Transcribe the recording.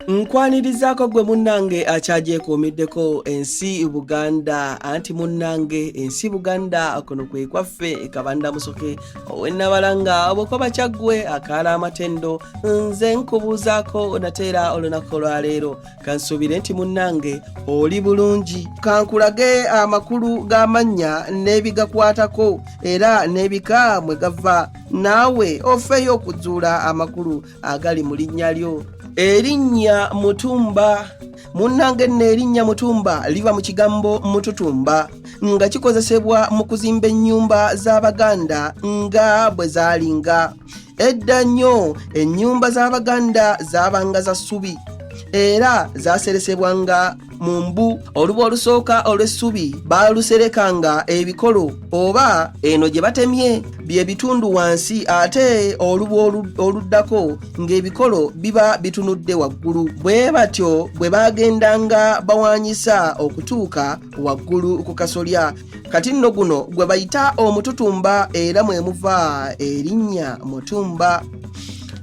nkwanirizaako gwe munnange akyagyekuumiddeko ensi buganda anti munnange ensi buganda kuno kwe kwaffe kabanda musoke owenabalanga obwokoba kyaggwe akaala amatendo nze nkubuuzaako nateera olunaku olwaleero kansuubire nti munnange oli bulungi kankulage amakulu g'amannya n'ebigakwatako era n'ebika mwe gava naawe ofeeyo okuzuula amakulu agali mu linnya lyo erinnya mutumba munnange nno erinnya mutumba liva mu kigambo mututumba nga kikozesebwa mu kuzimba ennyumba z'abaganda nga bwe zaalinga edda nnyo ennyumba z'abaganda zaabanga za ssubi era zaaseresebwanga mu mbu oluba olusooka olw'essubi baaluserekanga ebikolo oba eno gye batemye bye bitundu wansi ate oluba oluddako ng'ebikolo biba bitunudde waggulu bwe batyo bwe baagendanga bawaanyisa okutuuka waggulu ku kasolya kati nno guno gwe bayita omututumba era mwe muva erinnya mutumba